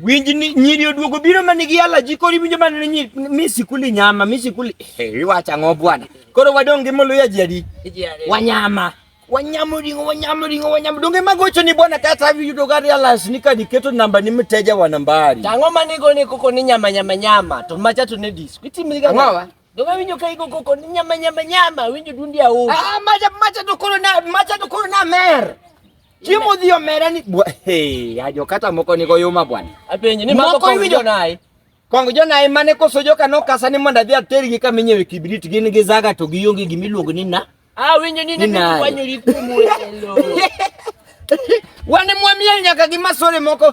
Winj ni nyiri oduogo biro ma nigi alaji koro iwinjo mana ni nyiri mi sikuli nyama mi sikuli eh, iwacho ang'o bwana koro wadong' gi moluya ji adi wanyama wanyamo ringo wanyamo ringo wanyamo donge magocho ni bwana kata yudo gari alas ni kadi keto namba ni mteja wa nambari tango manigo ni koko ni nyama nyama nyama to macha to ne disco itimiriga ngawa donge winjo ka igo koko ni nyama nyama nyama winjo dundi awo ah macha macha to koro na macha to koro na mer Chiemo odhi omera ni hey, ajo kata moko ni goyuma bwana. Apenji ni moko kong jonai. Kong jonai mane koso joka no kasa ni mondo adhi ater gi kama inyewe kibrit gin gi zaga to gionge gima iluongo ni na. Ah winjo ni ni kwanyo ri kumu elo. Wane mwamiel nyaka gi masore moko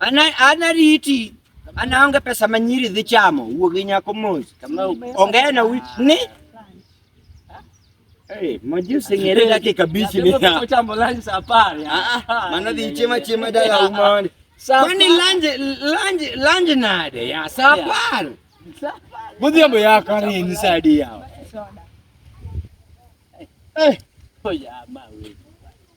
Ana ana riti ana onge pesa ma nyiri dhi chamo wuo gi nyako mos kama onge na wi ni Hey, majusi ngere yake kabichi ni ya. Kuchamba lunch safari. Ah, ah. Maana dhi chema chema dala umani. Kwani lunch lunch lunch nade ya safari. Safari. Budi ambo ya kari ni sadi ya. Eh. Oya mawe.